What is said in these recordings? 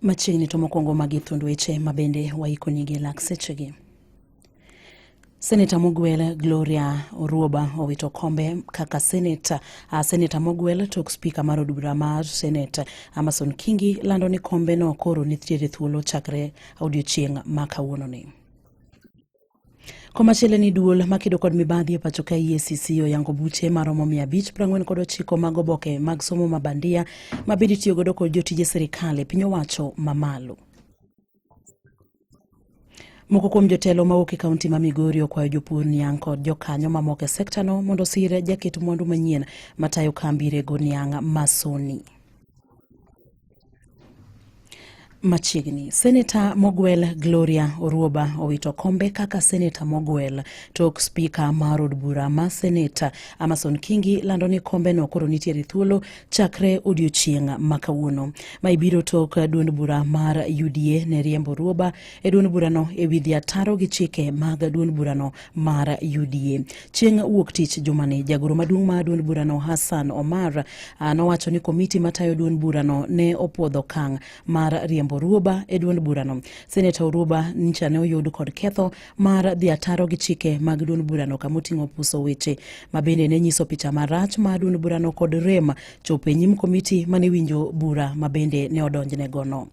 Machiegni to mokwongo magi thund weche ma bende waikonigi lak sechegi. Seneta Mugwel Gloria Oruoba owito kombe kaka seneta. Uh, seneta Mugwel tok spika mar od bura mar senate Amason Kingi lando ni kombe no koro nitiere thuolo chakre odiochieng' ma kawuononi. Komachielo ni duol makedo kod mibadhi e pacho ka EACC oyango buche maromo 540 kod ochiko mag oboke mag somo ma bandia ma bende itiyo godo kod jotije sirikal e piny owacho mamalo. Moko kuom jotelo mawuok e kaunti ma Migori okwayo jopur niang' kod jokanyo mamoko e sektano mondo osir jaket mwandu manyien matayo kambi rego niang' masoni. Machiegni, Seneta Mogwel Gloria Oruoba owito kombe kaka Seneta Mogwel tok spika mar od bura ma Seneta Amason Kingi lando ni kombeno koro nitiere thuolo chakre odiochieng' ma kawuono ma ibiro tok duond bura mar UDA ne riembo Oruoba e duond burano e wi dhi ataro gi chike mag duond burano mar UDA. Chieng' wuok tich jumani, jagoro maduong' ma duond burano Hassan Omar ah, nowacho ni komiti matayo duond burano ne opuodho kang' mar riembo Ruoba e duond burano. Seneta Oruoba ncha ne oyud kod ketho mar dhi ataro gi chike mag duond burano kama oting'o puso weche ma bende ne nyiso picha marach ma duond burano kod rem chopo e nyim komiti mane winjo bura ma bende ne odonjnegono.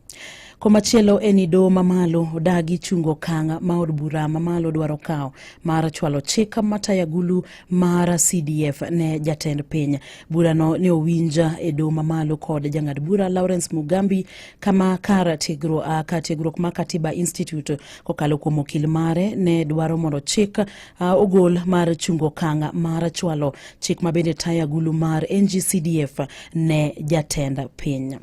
Komachielo en ni doho mamalo odagi chungo okang' ma od bura mamalo dwaro kawo mar chwalo chik mataya gulu mar CDF ne jatend piny. Burano ne owinja e doho mamalo kod jang'ad bura Lawrence Mugambi kama kar tiegruok ah, kar tiegruok ma Katiba Institute kokalo kuom okil mare ne dwaro mondo chik ah, ogol mar chungo okang' mar chwalo chik mabende taya gulu mar NGCDF ne jatend piny.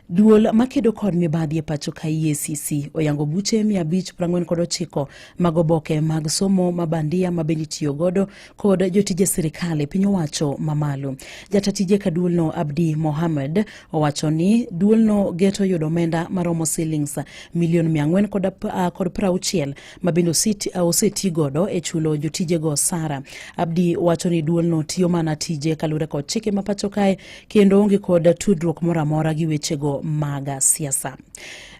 Duol makedo kod mibadhi e pacho ka EACC oyango buche 549 mag oboke mag somo ma bandia ma bende itiyo godo kod jotije sirkal e piny owacho mamalo. Jata tije ka duolno Abdi Mohamed owacho ni duolno geto yudo omenda maromo silings milion 400 kod 60 ma bende oseti godo e chulo jotijego osara. Abdi wacho ni duolno tiyo mana tije kaluwore kod chike ma pacho kae kendo onge kod tudruok moro amora gi wechego mag siasa.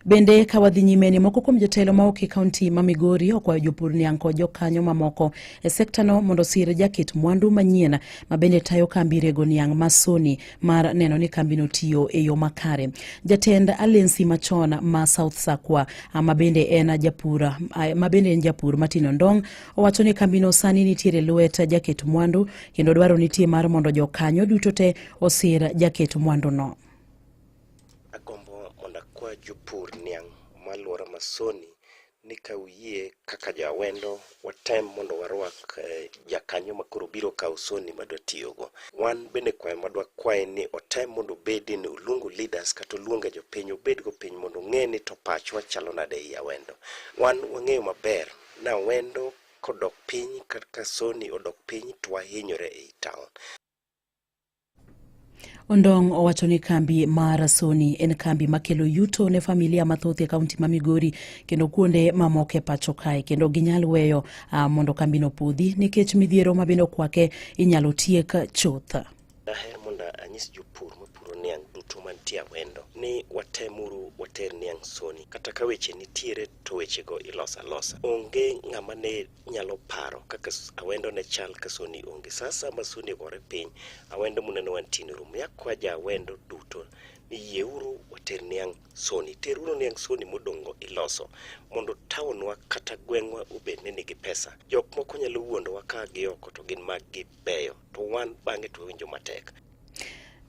Bende ka wadhi nyime ni moko kuom jotelo ma ok e kaunti ma Migori okwayo jopur niang' kod jokanyo mamoko e sektano mondo osir jaket mwandu manyien ma bende tayo kambi rego niang' ma Sony mar neno ni kambino tiyo e yo makare. Jatend alensi machon ma South Sakwa mabende en japur mabende en japur Martin Ndong owacho ni kambino sani nitiere lwet jaket mwandu kendo dwaro nitie mar mondo jokanyo duto te osir jaket mwanduno. Agombo mondo akwa jopur niang' malwora masoni ni ka uyie kaka jo awendo watem mondo warwak eh, jakanyo ma koro biro kawo soni ma dwa tiyogo. Wan bende kwayo ma dwa kwaye ni otem mondo obedi ni oluongo leaders kata oluonge jopiny obedgo piny mondo ong'e ni to pachwa chalo nade ei awendo. Wan wang'eyo maber ni awendo kodok piny kata ka soni odok piny to wahinyore ei town. Ondong owacho ni kambi mar Sony en kambi makelo yuto ne familia mathoth e kaunti ma Migori kendo kuonde mamoko e pacho kae kendo ginyal weyo uh, mondo kambino podhi nikech midhiero ma bende okwake inyalo tiek chuth. Daher mondo anyis jopur mapuro niang' duto mantie Awendo ni watemuru water niang' Sony kata ka weche nitiere to wechego iloso alosa. Onge ng'ama ne nyalo paro kaka s- awendo ne chal ka soni onge saa saa ma soni ogore piny awendo muneno wantie e room yakwa ja awendo duto ni yieuru water niang' soni teruru niang' soni modong'go iloso mondo taonwa kata gweng'wa obed ni nigi pesa jok moko nyalo wuondowa ka gioko to gin mag gibeyo to wan bang'e to wawinjo matek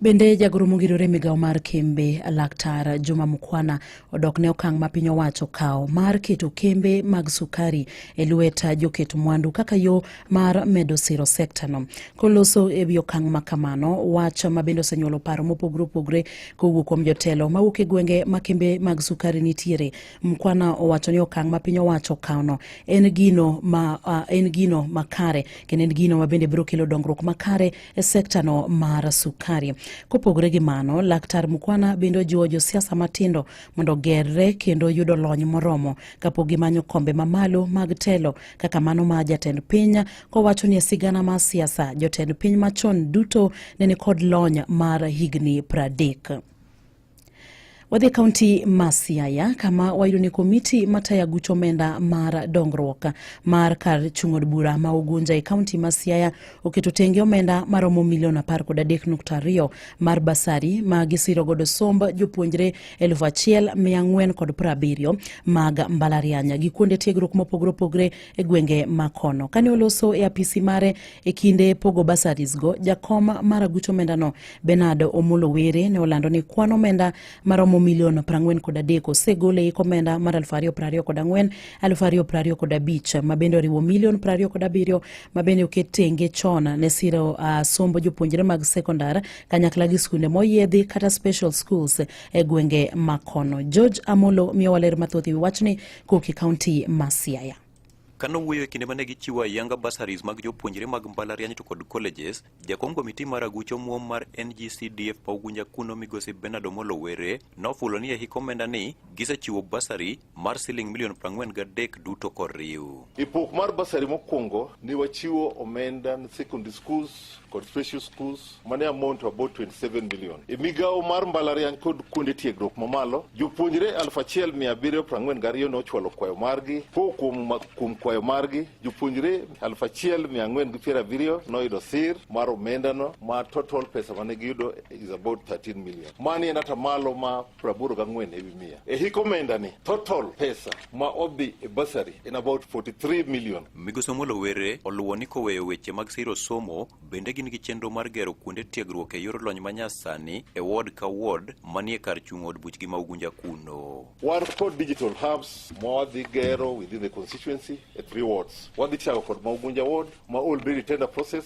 Bende jagoro mogirore migawo mar kembe laktar Juma Mukwana odok ne okang' ma piny owacho kawo mar keto kembe mag sukari e lwet joket mwandu kaka yo mar medo siro sekta no. Koloso e wi okang' ma kamano, wach ma bende osenyuolo paro mopogre opogre kowuok kuom jotelo mawuok e gwenge ma kembe mag sukari nitiere. Mukwana owacho ni okang' ma piny owacho kawno en gino ma, uh, en gino makare kendo en gino ma bende biro kelo dongruok makare e sektano mar sukari. Kopogore gi mano, Laktar Mukwana bende ojiwo josiasa matindo mondo gerre kendo yudo lony moromo kapok gimanyo kombe mamalo mag telo kaka mano ma jatend piny kowacho ni e sigana mar siasa jotend piny machon duto ne nikod lony mar higni pradek. Wadhi kaunti ma Siaya kama wayudo ni komiti matayo aguch omenda mar dongruok mar kar chung' od bura ma Ugunja e kaunti ma Siaya oketo tenge omenda maromo milion apar kod adek nukta ariyo mar basari ma gisiro godo somb jopuonjre elfu achiel mia ang'wen kod piero abiriyo mag mbalariany gi kuonde tiegruok mopogore opogore e gwenge ma kono. Kane oloso e apisi mare E kinde pogo basaris go, jakom mar aguch omendano Bernard Omolo Were ne olando ni kwan omenda maromo milion 43 kod adek osegol e ik omenda mar 2024 kod 2025 kod abich ma bende oriwo milion 27 kod abiriyo ma bende oket tenge chon ne siro uh, sombo jopuonjre mag sekondar kanyakla gi skunde moyiedhi kata special schools e gwenge makono. George Amolo miyowa ler mathoth e wi wachni Koki County ma Siaya. Ka nowuoyo e kinde ma ne gichiwo ayanga bursaries mag jopuonjre mag mbalariany to kod colleges, jakom komiti mar aguch omuom mar NGCDF ma Ugunja kuno migosi Bernard Omolo Were nofulo ni e hik omenda ni gisechiwo bursary mar siling milion 43 duto koriw. E pok mar bursary mokwongo ne wachiwo omenda ne secondary schools kod special schools mane amount to about 27 million e migawo mar mbalariany kod kuonde tiegruok mamalo jopuonjre 1742 ne ochwalo kwayo margi ko kuom, ma- kuom kwayo margi jopuonjre 1470 noyudo sir mar omendano ma total pesa mane giyudo is about 13 million mani en atamalo ma 84 ewi mia e hik omendani total pesa ma odhi e basari in about 43 million. Migosi Omolo Were oluwo ni koweyo weche mag siro somo, bende gin gi chenro mar gero kuonde tiegruok e yor lony manyasani e ward ka ward manie kar chung' od buchgi ma Ugunja kuno. Wan kod digital hubs ma wadhi gero within the constituency e three wards. Wadhi chako kod ma Ugunja ward ma already tender process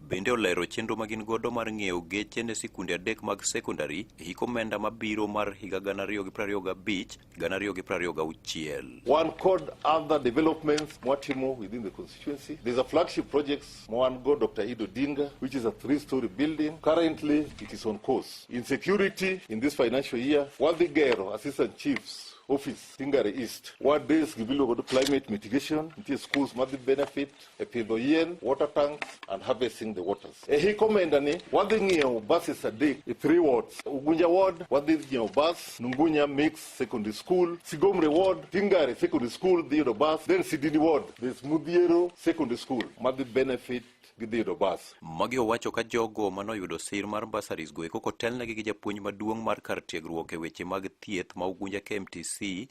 Bende olero chenro ma gin godo mar ng'iewo geche ne sikunde adek mag sekondari e hik omenda mabiro mar higa gana ariyo gi prariyo gabich gana ariyo gi prariyo gauchiel. Wan kod other developments mwatimo within the constituency. There's a flagship projects mwan go Dr. Ido Dinga which is a three-story building. Currently it is on course. In security in this financial year, Wadhi Gero, Assistant Chiefs office Singare East. What days gibiluongo ni climate mitigation, nitie schools madhi benefit, e pidho yien, water tanks and harvesting the waters. E hik omenda ni wadhi ng'iewo buses adek e three wards. Ugunja ward wadhi ng'iewo bus, Nungunya Mix Secondary School, Sigomre ward, Tingare Secondary School dhi yudo bus, then Sidini ward, there's Mudhiero Secondary School madhi benefit gidhi yudo bus. Magi owacho ka jogo manoyudo sir mar bursaries go eko kotelnegi gi japuonj maduong' mar kar tiegruok e weche mag thieth ma Ugunja KMTC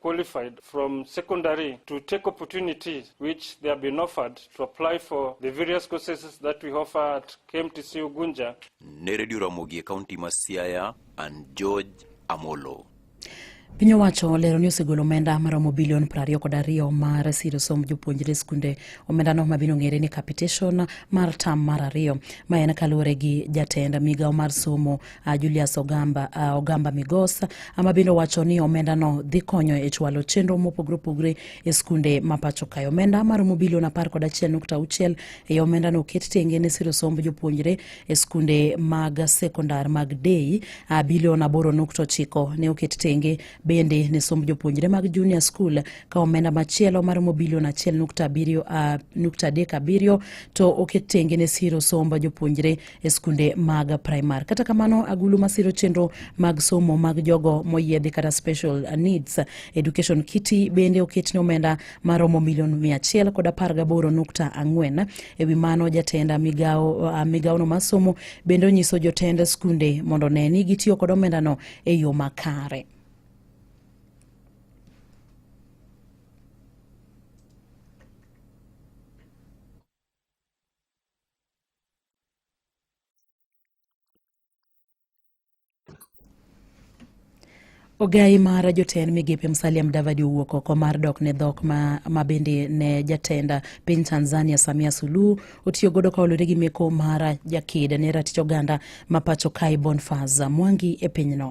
qualified from secondary to take opportunities which they have been offered to apply for the various courses that we offer at KMTC Ugunja. Ne Radio Ramogi e kaunti ma Siaya and George Amolo. Piny owacho olero ni osegolo omenda maromo bilion prariyo kod ariyo mar siro somb jopuonjre e skunde. Omendano mabiro ng'ere ni capitation mar tam mar ariyo ma en kaluwore gi jatend migawo mar somo uh, Julius Ogamba, uh, Ogamba Migos ama bende owacho ni omendano dhi konyo e chwalo chenro mopogore opogore e skunde ma pacho kae. Omenda maromo bilion apar kod achiel nukta auchiel e omendano oket tenge ne siro somb jopuonjre e skunde mag sekondar mag dei. Uh, bilion aboro nukta ochiko ne oket tenge bende ne somb jopuonjre mag junior school ka omenda machielo maromo bilion achiel nukta abiriyo uh, nukta adek abiriyo to oket tenge ne siro somb jopuonjre e skunde mag primar. Kata kamano, agulu masiro chenro mag somo mag jogo moyiedhi kata special needs education kiti bende oketne omenda maromo milion mia achiel kod apar gaboro nukta ang'wen. E wi mano, jatend migawo ah, migawono mar somo bende onyiso jotend skunde mondo ne ni gitiyo kod omendano e yo makare. Ogai mar jotend migepe Musalia Mudavadi owuok oko mar dok ne dhok ma, ma bende ne jatenda piny Tanzania Samia Suluhu otiyo godo ka olore gi meko mar jaked ne ratich oganda ma pacho kae Bonfaz Mwangi e pinyno.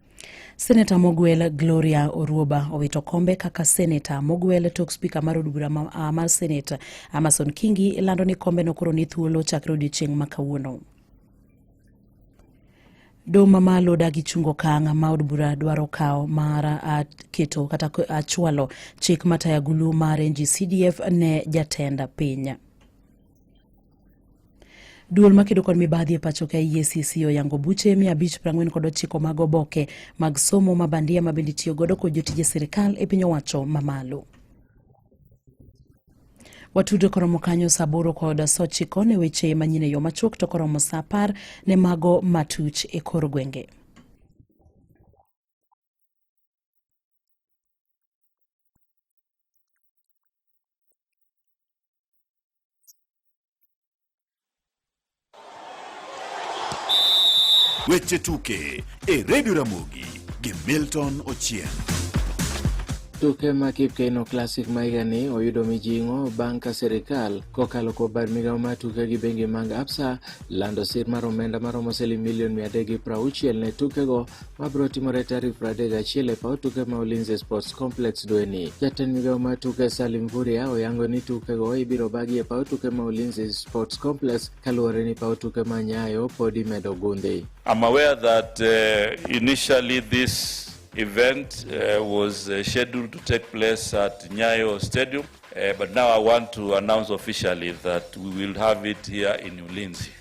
Seneta Mogwel Gloria Oruoba owito kombe kaka seneta. Mogwel tok spika mar od bura ma- ah, mar senate Amason Kingi lando ni kombe nokoro ni thuolo chakre odiechieng' ma kawuono. Doho mamalo dagi chungo okang' ma od bura dwaro kawo mar ah, keto kata ko- ah, chwalo chik mataya gulu mar NGCDF ne jatend piny. Duol makedo kod mibadhi e pacho ka EACC oyango buche mia abich prang'wen kod ochiko mag oboke mag somo ma bandia ma bende itiyo godo kod jotije sirkal e piny owacho mamalo. Watudo koromo kanyo saa aboro kod saa ochiko ne weche manyien e yo machuok to koromo saa apar ne mago matuch e kor gwenge. Weche tuke e redio Ramogi gi Milton Ochieng'. Tuke ma Kipkeino Classic ma higani oyudo mijing'o bang' ka sirkal kokalo kuom bad migawo mar tuke gi bengi mag Absa lando sir mar omenda maromo siling milion 360 ne tukego ma biro timore tarik 31 e paw tuke ma Ulinzi Sports Complex dweni. Jatend migawo mar tuke Salim Vuria oyango ni tukego ibiro bagi e paw tuke ma Ulinzi Sports Complex kaluwore ni paw tuke ma Nyayo pod imedo gundhi. I'm aware that uh, initially this event uh, was uh, scheduled to take place at Nyayo Stadium uh, but now I want to announce officially that we will have it here in Ulinzi.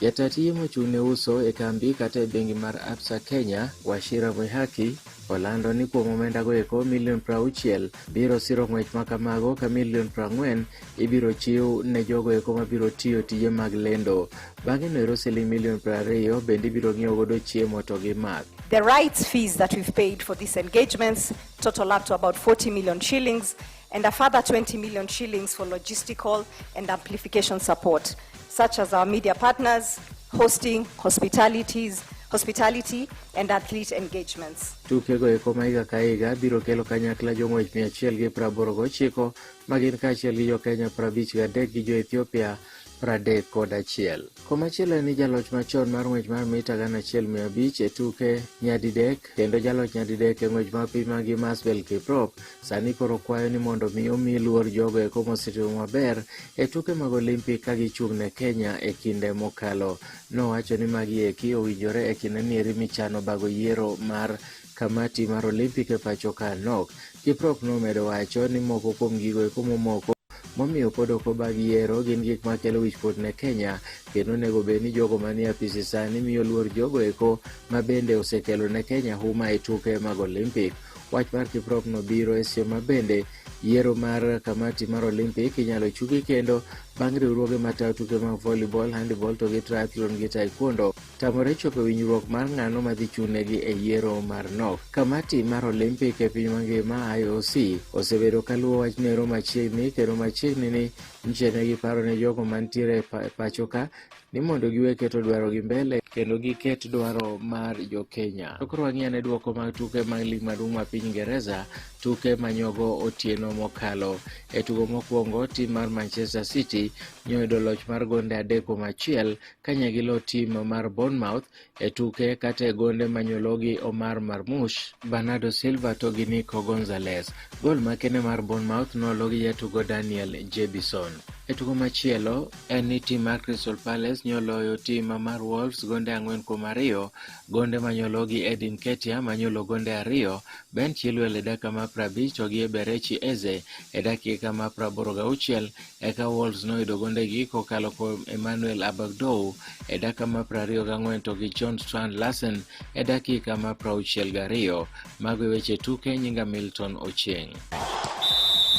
Jataa tije mochung' ne uso e kambi kata e bengi mar Absa Kenya, Wachira Mwihaki, olando ni kuom omenda go eko milion prauchiel biro siro ng'wech ma kamago ka milion prang'wen ibiro chiw ne jogo eko mabiro tiyo tije mag lendo. Bang'e noero siling milion prariyo bende ibiro ng'iew godo chiemo to gi math. The rights fees that we've paid for these engagements total up to about 40 million shillings and a further 20 million shillings for logistical and amplification support, such as our media partners, hosting, hospitalities, hospitality and athlete engagements. Tukego eko ma higa ka higa biro kelo kanyakla jong'wech mia achiel gi praboro gochiko ma gin kaachiel gi jo Kenya prabich gadek gi jo Ethiopia pradek kod achiel. Komachielo en ni jaloch machon mar ng'wech mar mita gana achiel mia abich e tuke nyadidek kendo jaloch nyadidek e ng'wech mar piny magi Masbel Kiprop sani koro kwayo ni mondo mi omi luor jogo eko mosetimo maber e tuke mag Olimpik ka gichung' ne Kenya e kinde mokalo. Nowacho ni magi eki owinjore e kinde nieri michano bago yiero mar Kamati mar Olimpik e pacho ka nok. Kiprop nomedo wacho ni moko kuom gigo eko momoko momiyo pod ok obag yiero gin gik makelo wichkuot ne Kenya kendo onego bed ni jogo manie apisi sani miyo luor jogo eko ma bende osekelo ne Kenya huma e tuke mag Olimpik. Wach mar Kiprop no biro e seche ma bende yiero mar kamati mar Olimpik inyalo chugi kendo bang' riwruoge matayo tuke mag volleyball, handball to gi triathlon gi taekwondo. tamore chopo winjruok mar ng'ano madhi chunegi e yiero mar nok kamati mar olimpik e piny mangima ioc osebedo kaluwo wachnero machiegni kendo machiegni ni nchene giparo ne jogo mantiere e pacho ka ni mondo giwe keto dwarogi mbele kendo giket dwaro mar jokenya to koro wang'i ane dwoko mag tuke mag lig maduong' ma piny ingereza tuke manyogo otieno mokalo e tugo mokwongo tim mar manchester city nyoyudo loch mar gonde adek kuom achiel kanye gi lo tim mar Bournemouth e tuke kata e gonde manyologi Omar Marmush, Bernardo Silva to gi Nico Gonzalez. Gol makene mar Bournemouth nologi jatugo Daniel Jebison. E tugo machielo en ni tim mar Crystal Palace nyoloyo tim mar Wolves gonde ang'wen kuom ariyo. Gonde manyologi Edin Ketia manyolo gonde ariyo, Ben Chilwell e dakika ma prabich to gi Eberechi Eze e dakika ma praboro gauchiel Eka Wolves noyudo gondegi kokalo kuom Emmanuel Abagdou e dakika ma 24 to gi John Strand Larsen e dakika ma 62. Mago e weche tuke nyinga Milton Ochieng'.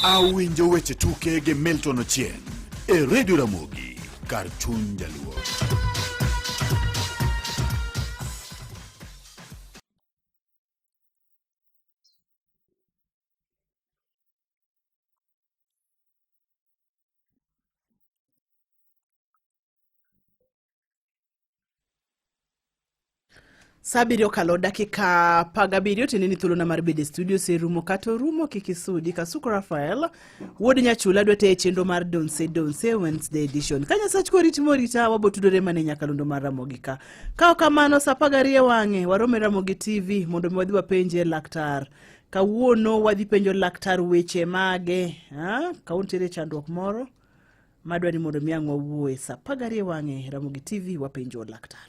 Awinjo weche tuke gi Milton Ochieng' e Radio Ramogi kar chuny jaluo. Sa abiriyo okalo dakika apar gabiriyo tiende ni thuolona mar bedo e studio oserumo kata orumo kik isudi kasuku rafael wuod nyachula dwa teye chenro mar donse donse wednesday edition ka nyasach korit morita wabotudore mana e nyakalondo mar ramogi ka ka ok kamano sa apar gariyo e wang'e warome ramogi tv mondo mi wadhi wapenje laktar kawuono wadhi penjo laktar weche mage kawuono tiere chandruok moro madwa ni mondo mi ang' wawuoye sa pagarie wang'e ramogi tv wapenjo laktar